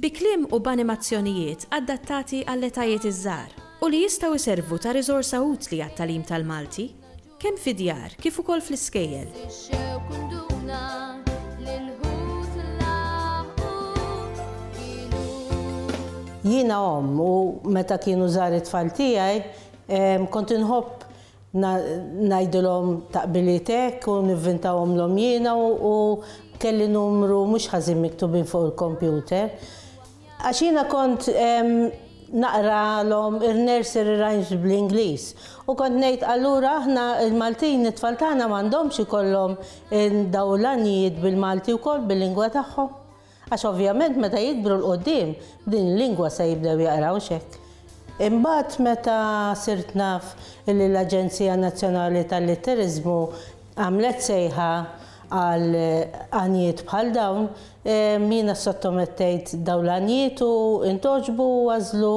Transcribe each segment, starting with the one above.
Bi kliem u b'animazzjonijiet adattati għall-etajiet iż-żgħar u li jistgħu jservu ta' riżorsa utli għat-tagħlim tal-Malti, kemm fid-djar kif ukoll fl-iskejjel. Jiena omm u meta kienu żgħar it-tfal tiegħi kont inħobb ngħidilhom taqbiliet hekk u nivvintahomlhom jiena u kelli numru mhux ħażin miktubin fuq il-kompjuter. Għax jiena kont naqralhom ir-nursery rhymes bl-Ingliż u kont ngħid allura aħna l-Maltin it-tfal tagħna m'għandhomx ikollhom dawn l-għanjiet bil-Malti wkoll bil-lingwa tagħhom. Għax ovvjament meta jikbru 'l quddiem, b'din il-lingwa se jibdew jaqrawx hekk. Imbagħad meta sirt naf illi l-Aġenzija Nazzjonali tal-Litteriżmu għamlet sejħa għal għanjiet bħal dawn, jiena ssottomettejt dawn l-għanjiet u ntgħoġbu u għażlu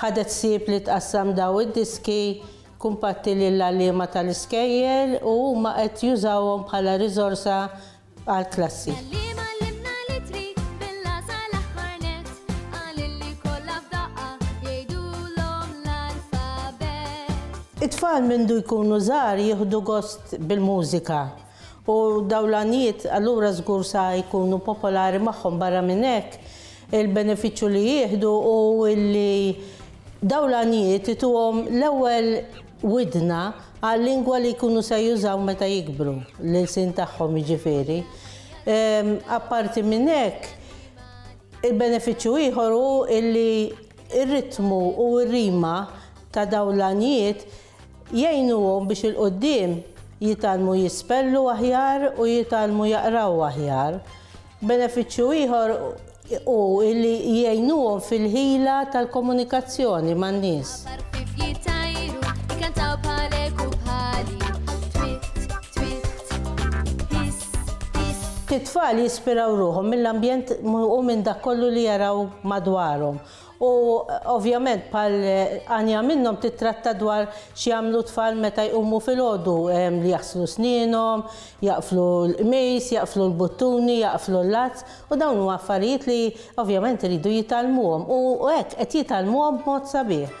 Ħadet ħsieb li tqassam dawn id-diski kumpatti lill-għalliema tal-iskejjel u huma qed jużawhom bħala riżorsa għall-klassi. It-tfal mindu jkunu żgħar jieħdu gost bil-mużika U dawn l-għanijiet allura żgur sa jkunu popolari magħhom. Barra minn hekk, il-benefiċċju li jieħdu hu li dawn l-għanijiet ituhom l-ewwel widna għal-lingwa li jkunu se jużaw meta jikbru, l-ilsien tagħhom jiġifieri. Apparti minn hekk, il-benefiċċju ieħor hu li r-ritmu u r-rima ta' dawn l-għanijiet Jgħinuhom biex 'il quddiem jitgħallmu jispellu aħjar u jitgħallmu jaqraw aħjar. Benefiċċju ieħor hu li jgħinuhom fil-ħila tal-komunikazzjoni man-nies. It-tfal jispiraw ruħhom mill-ambjent u minn dak kollu li jaraw madwarhom U, ovvjament, bħal għanja minnhom tittratta dwar x'jagħmlu t-tfal meta jqumu filgħodu, li jaħslu snienhom, jaqflu l-qmis, jaqflu l-buttuni, jaqflu l-lazz, u dawn huma affarijiet li, ovvjament, iridu jitgħallmuhom, u hekk qed jitgħallmuhom b'mod sabiħ.